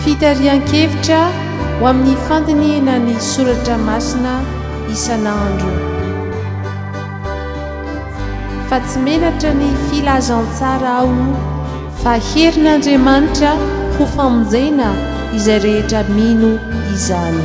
Fitarihan-kevitra ho amin'ny fandinihina ny soratra masina isan'andro. Fa tsy menatra ny filazantsara aho. Fa herin'Andriamanitra ho famonjena izay rehetra mino izany.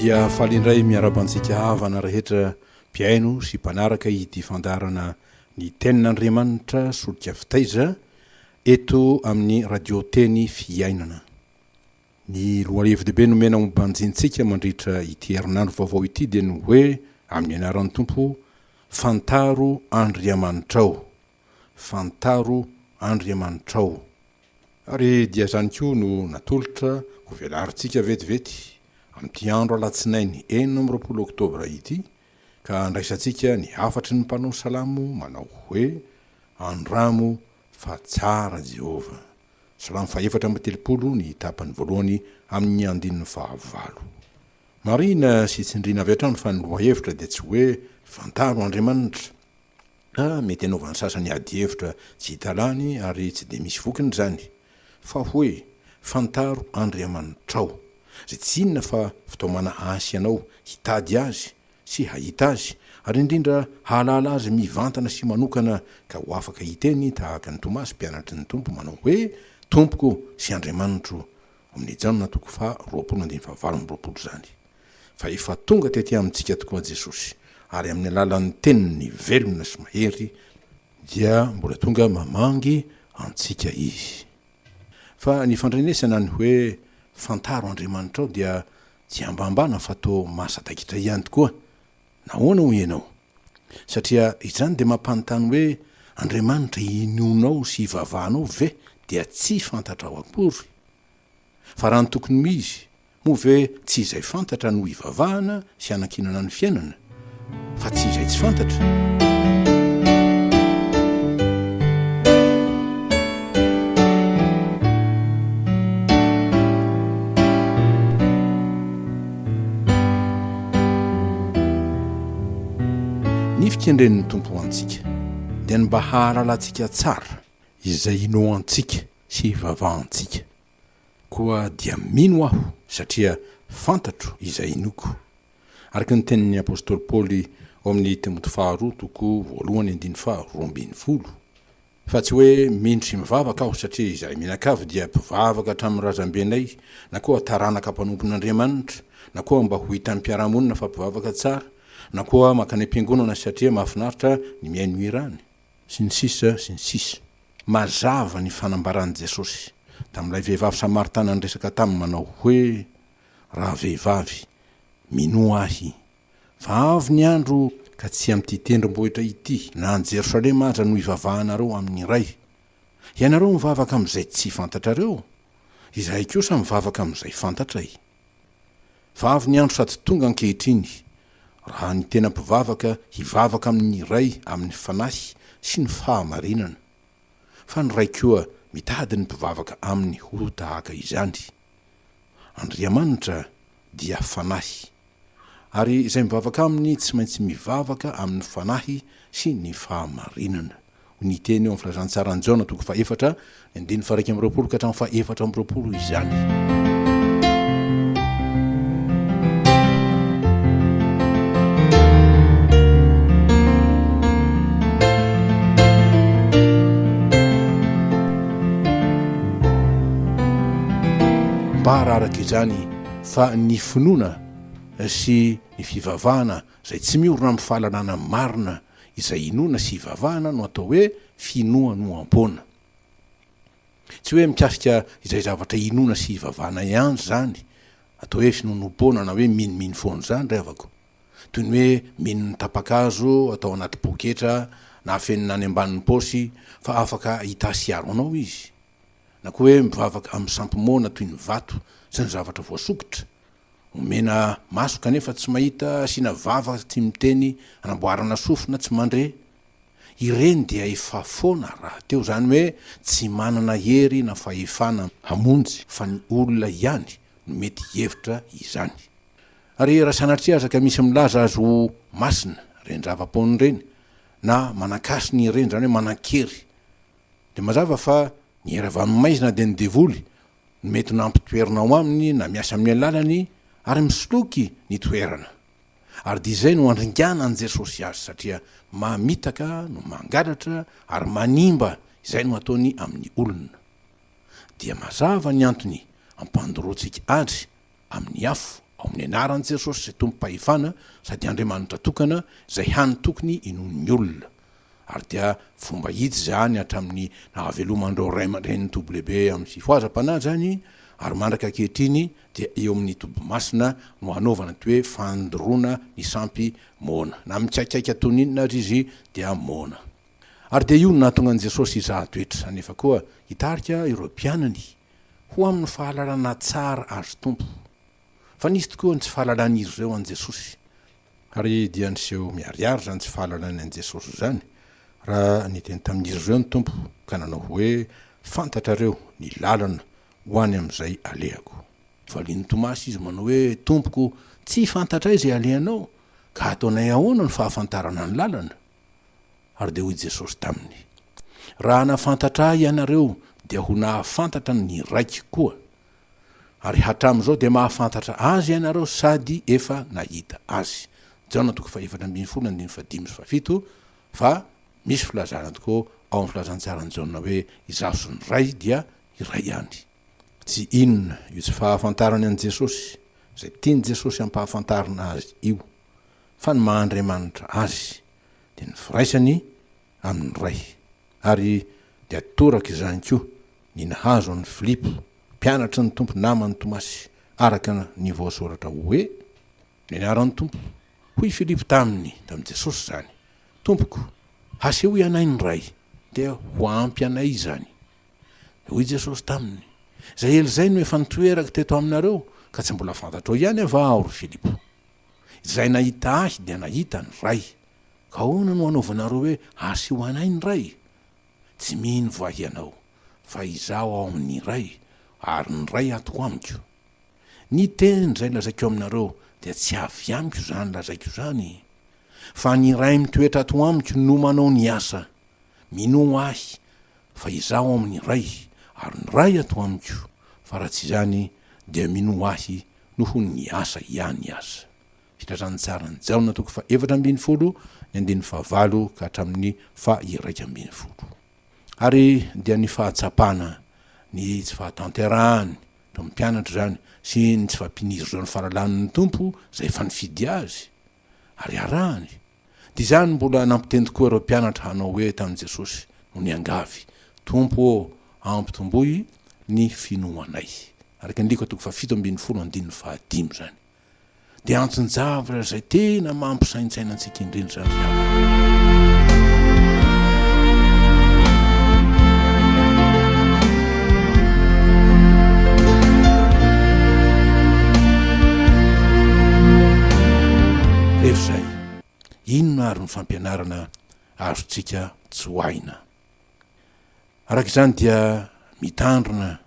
dia faly indray miaraba antsika havana rehetra mpihaino sy mpanaraka ity fandarana ny tenin'andriamanitra solika fitaiza eto amin'ny radio teny fiainana ny loalevidehibe nomena ombanjintsika mandritra ity herinandro vaovao ity dia ny hoe amin'ny anaran'ny tompo fantaro andriamanitrao Fantaro Andriamanitrao. Ary dia izany koa no natolotra ho velarintsika vetivety amin'ity andro alatsinainy enina amby roapolo oktobra ity ka andraisantsika ny hafatry ny mpanao salamo manao hoe, Andramo fa tsara Jehovah. Salamo fahefatra amby telopolo ny tapany voalohany amin'ny andininy fahavalo. Marihina sy tsindriana avy hatrany fa ny lohahevitra dia tsy hoe Fantaro Andriamanitra. A Mety hanaovan'ny sasany ady hevitra tsy hita lany ary tsy dia misy vokiny izany. Fa hoe, Fantaro Andriamanitrao. Izay tsy inona fa fitaomana hasy anao hitady Azy sy hahita Azy, ary indrindra hahalala Azy mivantana sy manokana ka ho afaka hiteny tahaka ny Tomasy mpianatry ny Tompo manao hoe, Tompoko sy Andriamanitro. Ao amin'ny Jaona toko faha roapolo andininy faha valo amby roapolo izany. fa efa tonga tety amintsika tokoa Jesosy, ary amin'ny alalan'ny Teniny velona sy mahery dia mbola tonga mamangy antsika Izy. Fa ny fandrenesana ny hoe fantaro Andriamanitrao dia tsy ambambana fa toa mahasadaikitra ihany tokoa. Nahoana hoy ianao? Satria izany dia mampanontany hoe Andriamanitra inoanao sy ivavahanao ve dia tsy fantatrao akory? Fa raha ny tokony ho izy Moa ve tsy izay fantatra no ivavahana sy hanankinana ny fiainana, fa tsy izay tsy fantatra? Ny fikendren'ny Tompo ho antsika dia ny mba hahalalantsika tsara izay inoantsika sy ivavahantsika. Koa dia mino aho, satria fantatro izay inoako. Araka ny tenin'ny apostoly Paoly ao amin'ny Timoty faharoa toko voalohany andininy faha roa ambin'ny folo, Fa tsy hoe mino sy mivavaka aho, satria izahay mianakavy dia mpivavaka hatramin'ny razambenay, na koa taranaka mpanompon'Andriamanitra, na koa mba ho hitan'ny mpiara-monina fa mpivavaka tsara, na koa mankany am-piangonana satria mahafinaritra ny mihaino hira any. Sy ny sisa, sy ny sisa. Mazava ny fanambaran'i Jesosy, tamin'ilay vehivavy Samaritana niresaka taminy manao hoe, Ravehivavy, minoa Ahy, fa avy ny andro ka tsy amin'ity tendrombohitra ity na any Jerosalema aza no hivavahanareo amin'ny Iray. Ianareo mivavaka amin'izay tsy fantatrareo, Izahay kosa mivavaka amin'izay fantatray. Fa avy ny andro sady tonga ankehitriny, raha ny tena mpivavaka hivavaka amin' ny Ray amin' ny Fanahy sy ny fahamarinana, fa ny Ray koa mitady ny mpivavaka Aminy ho tahaka izany. Andriamanitra dia Fanahy, ary izay mivavaka Aminy tsy maintsy mivavaka amin' ny Fanahy sy ny fahamarinana. Ny teny eo amin'ny Filazantsaran'i Jaona toko fahefatra, ny andininy faha-iraika amby roapolo ka hatramin'ny faha-efatra amby roapolo izany. Mba araraka izany fa ny finoana sy ny fivavahana Izay tsy miorina amin'ny fahalalana marina izay inoana sy ivavahana no atao hoe finoanoam-poana. Tsy hoe mikasika izay zavatra inoana sy ivavahana ihany izany, atao hoe finoanoam-poana na hoe minomino foana izany ry havako. Toy ny hoe mino ny tapa-kazo atao anaty poketra na afenina any ambanin'ny paosy fa afaka hitasiaro anao izy. Na koa hoe mivavaka amin'ny sampy moana toy ny vato sy ny zavatra voasokitra. Omena maso kanefa tsy mahita, asiana vava tsy miteny, anamboarana sofina tsy mandre. Ireny dia efa foana rahateo, izany hoe tsy manana hery na fahefana hamonjy fa ny olona ihany no mety hihevitra izany. Ary raha sanatria aza ka misy milaza azy ho masina ireny zava-poana ireny na manan-kasina ireny, izany hoe manan-kery, dia mazava fa ny hery avy amin'ny maizina dia ny devoly ny mety nampitoerina ao aminy na miasa amin'ny alalany ary misoloky ny toerana. Ary dia izay no andringana an'i Jesosy azy satria mamitaka no mangalatra ary manimba izay no ataony amin'ny olona. Dia mazava ny antony ampandoroantsika adry amin'ny afo, ao amin'ny anaran'i Jesosy izay tompom-pahefana sady Andriamanitra tokana izay hany tokony inoan'ny olona. Ary dia fomba hita izany hatramin'ny nahaveloman'ireo ray aman-drenin'i WB amin'ny fifohazam-panahy izany ary mandraka ankehitriny dia eo amin'ny toby masina no hanaovana ity hoe fandoroana ny sampy moana na mikaikaika toy ny inona aza izy dia moana. Ary dia io no nahatonga an'i Jesosy hizaha toetra nefa koa hitarika ireo mpianany ho amin'ny fahalalana tsara Azy Tompo, fa nisy tokoa ny tsy fahalalan'izy ireo an'i Jesosy, ary dia niseho miharihary izany tsy fahalalany an'i Jesosy izany, raha niteny tamin'izy ireo ny Tompo ka nanao hoe, Fantatrareo ny lalana ho any amin'izay alehako. Valian'i Tomasy Izy manao hoe, Tompoko, tsy fantatray izay alehanao, ka hataonay ahoana ny fahafantarana ny lalana? Ary dia hoy Jesosy taminy, Raha hanafantatra Ahy ianareo, dia ho nahafantatra ny Raiko koa. Ary hatramin'izao dia mahafantatra Azy ianareo sady efa nahita Azy. Jaona toko fahefatra ambin'ny folo andininy fahadimy sy fahafito, Fa misy filazana tokoa ao amin'ny Filazantsaran'i Jaona hoe Izaho sy ny Ray dia iray ihany. Tsy inona io tsy fahafantarany an'i Jesosy, izay tian'i Jesosy hampahafantarina Azy io, fa ny maha Andriamanitra Azy. dia ny firaisany amin'ny Ray. Ary dia toraka izany koa ny nahazo an'i Filipo, mpianatry ny Tompo naman'i Tomasy, araka ny voasoratra hoe, Ny anaran'ny Tompo. Hoy Filipo taminy, tamin'i Jesosy izany, Tompoko, hasehoy anay ny Ray, dia ho ampy anay izany. Dia hoy Jesosy taminy, Izay ela izay no efa nitoerako teto aminareo, ka tsy mbola fantatrao ihany va Aho, ry Filipo? Izay nahita Ahy dia nahita ny Ray. Ka ahoana no anaovanareo hoe asio anay ny Ray? Tsy mino va hianao fa Izaho ao amin' ny Ray ary ny Ray ato amiko? Ny teny izay lazaiko aminareo dia tsy avy amiko izany lazaiko izany, fa ny Ray mitoetra ato amiko no manao ny asa. Minoa Ahy fa Izaho ao amin' ny Ray ary ny Ray ato amiko, fa raha tsy izany dia minoa Ahy noho ny asa ihany aza. Fitrandrahan'ny tsaran'i Jaona toko fahefatra ambin'ny folo ny andininy fahavalo ka hatramin'ny faha-iraika ambin'ny folo. Ary dia ny fahatsapana ny tsy fahatanterahan'ny mpampianatra izany sy ny tsy fampihinirizan'ny fahalalan'ny Tompo izay efa nifidy azy ary arahany, Dia izany mbola nampiteny tokoa ireo mpianatra hanao hoe tamin'i Jesosy, no niangavy, Tompo ô, ampitomboy ny finoanay. Araka ny Lika toko fahafito ambin'ny folo andininy fahadimy izany. Dia anton-javatra izay tena mampisaintsaina antsika indrindra izany ry havana. Inona àry ny fampianarana azontsika tsoahina? Araka izany dia mitandrina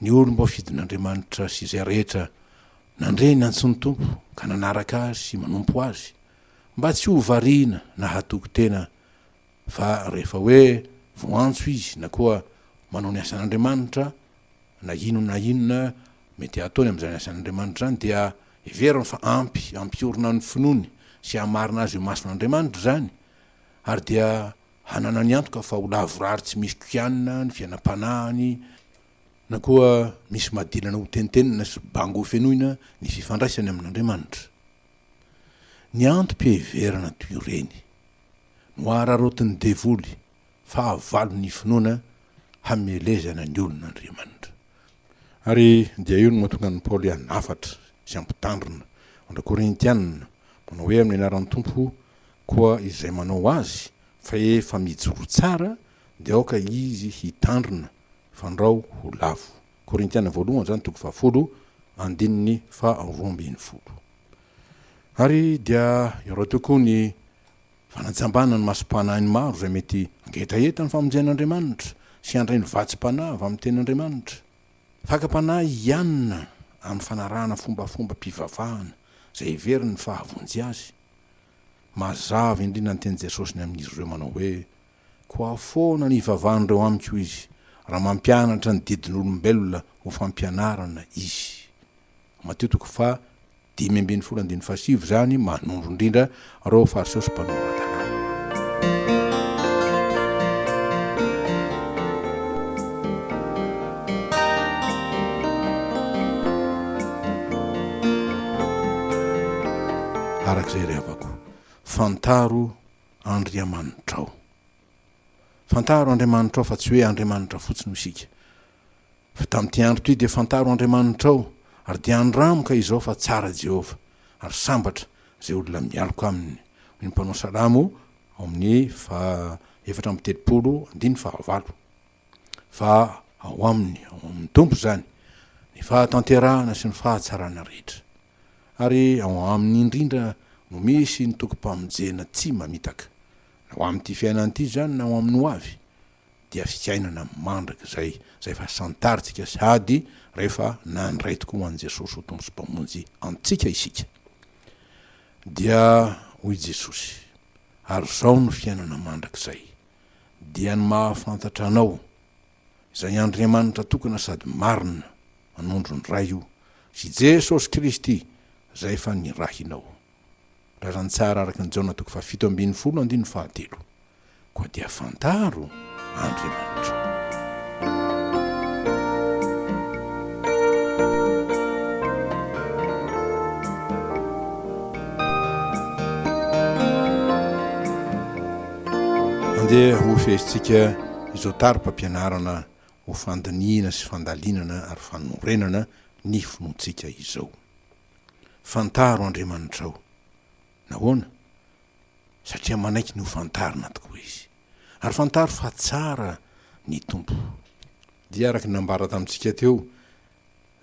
ny olom-boafidin'Andriamanitra sy izay rehetra nandre ny antsoin'ny Tompo ka nanaraka Azy sy manompo Azy, mba tsy ho variana na hatoky tena fa rehefa hoe voantso izy na koa manao ny asan'Andriamanitra, na inona na inona mety hataony amin'izany asan'Andriamanitra izany, dia Heveriny fa ampy hampiorina ny finoany sy hamarina azy ho masin'Andriamanitra izany, ary dia hananany antoka fa ho lavorary tsy misy kianina ny fiainam-panahiny, na koa misy madilana hotentenina sy bango hofenoina ny fifandraisany amin'Andriamanitra. Ny antom-piheverana toy ireny no araraotin'ny devoly fahavalo ny finoana hamelezana ny olon' Andriamanitra. Ary dia io no mahatonga an'i Paoly hanafatra sy hampitandrina andr Korintiana, manao hoe amin'ny anaran'ny Tompo koa izay manao azy fa efa mijoro tsara dia aoka izy hitandrina fandrao ho lavo. Korintiana voalohany izany toko fahafolo andininy faharoa ambin'ny folo. Ary dia iaraho tokoa ny Fanajambana ny masom-panahin'ny maro izay mety hangetaheta ny famonjen'Andriamanitra sy handray ny vatsim-panahy avy amin'ny Tenin'Andriamanitra. Fakam-panahy i Anna amin'ny fanarahana fombafombam-pivavahana izay heveriny fa hahavonjy azy. Mazava indrindra ny tenin'i Jesosy ny amin'izy ireo manao hoe, Koa ahoana no hivavahan'ireo amiko izy, raha mampianatra ny didin'olombelona ho fampianarana izy? Matio toko faha dimy ambin'ny folo andininy faha sivy izany manondro indrindra ireo Fariseo sy Mpanompoan-tanàna. Araka izay ry havako, fantaro Andriamanitrao. Fantaro Andriamanitrao fa tsy hoe Andriamanitra fotsiny hoy isika. Fa tamin'ity andro ity dia fantaro Andriamanitrao, ary dia andramo ka izao fa tsara Jehovah, ary sambatra izay olona mialoka aminy, hoy ny mpanao salamo ao amin'ny faha efatra amby telopolo, andininy faha valo. Fa ao aminy, ao amin'ny Tompo izany, ny fahatanterahana sy ny fahatsarana rehetra. Ary ao aminy indrindra no misy ny tokim-pamonjena tsy mamitaka, na ho amin'ity fiainana ity izany na ho amin'ny hoavy, dia fiainana mandrakizay izay efa santarintsika sady rehefa nandray tokoa ho an'i Jesosy ho Tompo sy Mpamonjy antsika isika. Dia hoy Jesosy, Ary izao no fiainana mandrakizay, dia ny mahafantatra Anao, izay Andriamanitra tokana sady marina, anondron'ny Ray io, sy Jesosy Kristy, izay efa nirahinao. raha raha ny tsara araka ny Jaona toko fahafito ambin'ny folo andininy fahatelo, koa dia fantaro Andriamanitra. Andeha ho fehezitsika izao tari-pampianarana ho fandinihina sy fandalinana ary fanorenana ny finoantsika izao. Fantaro Andriamanitrao. Nahoana? Satria manaiky ny hofantarina tokoa Izy. Ary fantaro fa tsara ny Tompo. Dia araka ny nambara tamintsika teo,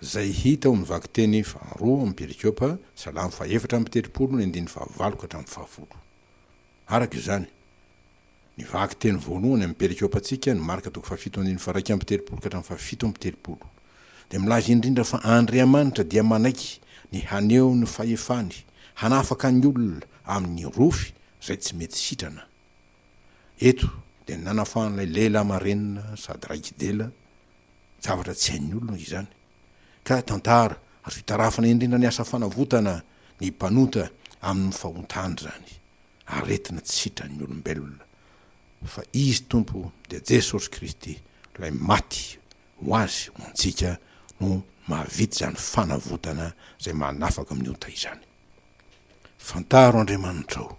izay hita ao amin'ny vakiteny faharoa amin'ny perikopa, Salamo fahaefatra amby telopolo ny andininy fahavalo ka hatramin'ny fahafolo. Araka izany, Ny vakiteny voalohany amin'ny perikopantsika no Marka toko fahafito andininy faharaika amby telopolo ka hatramin'ny fahafito amby telopolo. Dia milaza indrindra fa Andriamanitra dia manaiky ny haneho ny fahefany hanafaka ny olona amin'ny rofy izay tsy mety sitrana. Eto dia nanafahan'ilay lehilahy marenina sady raiki-dela, zavatra tsy hain'ny olona izany. ka tantara ary fitarafana indrindra ny asa fanavotana ny mpanota amin' ny fahontany izany aretina tsy sitran' ny olombelona, fa Izy Tompo dia Jesosy Kristy Ilay maty ho azy ho antsika no mahavita izany fanavotana izay manafaka amin' ny ota izany. Fantaro Andriamanitrao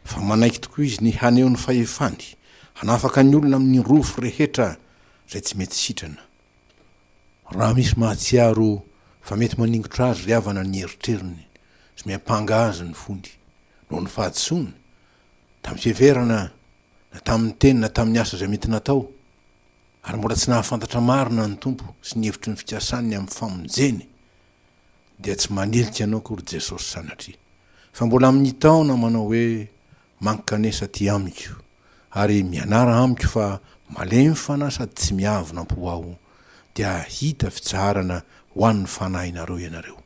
fa manaiky tokoa Izy ny haneho ny fahefany hanafaka ny olona amin' ny rofy rehetra izay tsy mety sitrana, Raha misy mahatsiaro fa mety maningotra azy ry havana ny eritreriny sy miampanga azy ny fony noho ny fahadisoana, tamin'ny fiheverana na tamin'ny teny na tamin'ny asa izay mety natao, ary mbola tsy nahafantatra marina ny Tompo sy ny hevitry ny fikasany amin'ny famonjeny, dia tsy manilika anao akory Jesosy sanatria, fa mbola mitaona manao hoe, Mankanesa aty amiko ary mianara amiko fa malemy fanahy sady tsy miavona am-po aho dia hahita fitsaharana ho an'ny fanahinareo ianareo.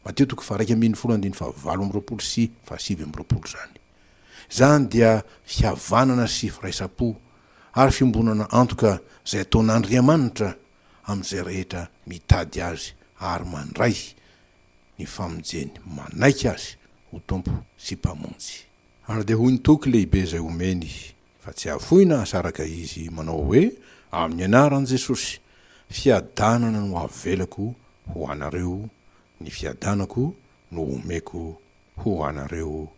Mateo toko faharaika ambin'ny folo andininy fahavalo amby roapolo sy fahasivy amby roapolo izany. Izany dia fihavanana sy firaisam-po ary fiombonana antoka izay ataon'Andriamanitra amin'izay rehetra mitady Azy ary mandray ny famonjeny manaiky Azy ho Tompo sy Mpamonjy. Ary dia hoy ny toky lehibe izay omeny fa tsy hafoina asaraka izy manao hoe, Amin'ny anaran'i Jesosy, fiadanana no avelako ho anareo, ny fiadanako no omeko ho anareo.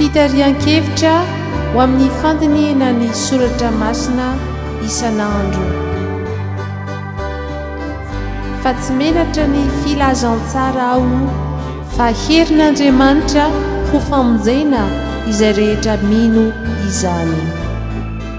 Fitarihan-kevitra ho amin'ny fandinihana ny soratra masina isan'andro. Fa tsy menatra ny filazantsara aho fa herin'Andriamanitra ho famonjena izay rehetra mino izany.